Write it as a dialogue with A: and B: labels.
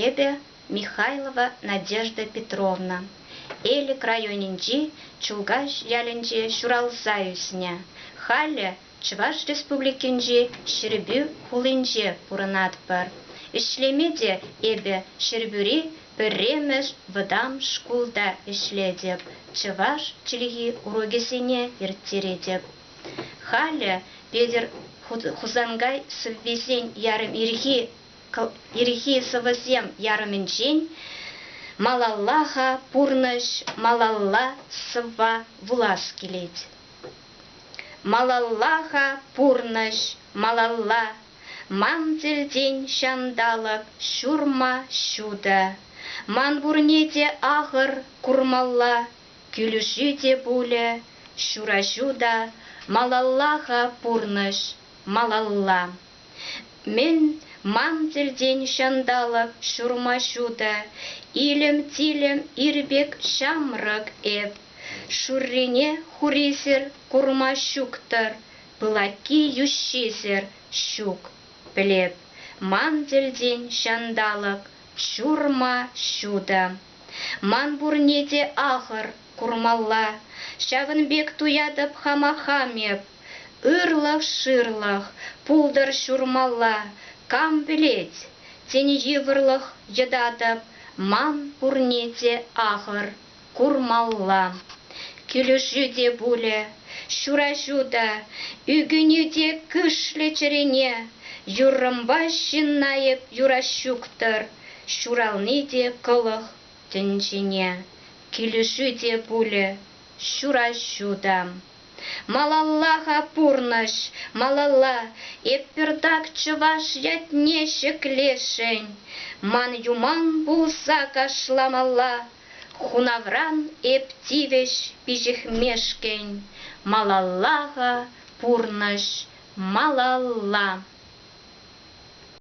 A: Эпӗ Михайлова Надежда Петровна Элӗк районӗнчи Чулкаҫ ялӗнче ҫуралса ӳснӗ. Халӗ Чӑваш Республикинчи Ҫӗрпӳ хулинче пурӑнатпӑр. Ӗҫлеме те эпӗ Ҫӗрпӳри пӗрремӗш вӑтам шкулта ӗҫлетӗп, чӑваш чӗлхи урокӗсене ирттеретӗп. Халӗ Петӗр Хусанкай сӑввисен ярӑм ирхи сӑвӑсем ярӑмӗнчен малалла-ха пурнӑҫ, малалла сӑвва вулас килет. Малалла-ха пурнӑҫ, малалла, ман тӗлтен ҫанталӑк ҫурма ҫутӑ, ман пурне те ахӑр курмалла, Кӳлӗшӳ те пулӗ, ҫураҫу та малалла-ха пурнӑҫ, малалла. Мӗн, ман тӗлтен ҫанталӑк ҫурма-ҫу та илӗм-тилӗм ир пек ҫамрӑк эп, шуррине хурисӗр курма ҫук-тӑр, пылакки-йӳҫҫисӗр ҫук. Пӗлеп, ман тӗлтен ҫанталӑк ҫурма-ҫу та. Ман пурне те ахӑр курмалла, ҫавӑн пек туятӑп хама хам эп. Ырлӑх-шырлӑх пултӑр ҫурмалла, кам пӗлет, тен йывӑрлӑх йӑтатӑп, ман пурне те ахӑр курмалла. Килӗшӳ те пулӗ, ҫураҫу та, ӳкӗнӳ те кӳшлӗ чӗрене, юррӑмпа ҫынна эп юраҫҫук-тӑр. Ҫурални те кӑлӑх тӗнчене, Килӗшӳ те пулӗ ҫураҫу та. Малалла-ха пурнӑҫ, малалла, Эп пӗртак чӑваш ятне ҫӗклесшӗн. Ман юман пулса кашламалла, Хунавран эп тивӗҫ пиҫӗхмешкӗн. Малалла-ха пурнӑҫ, малалла.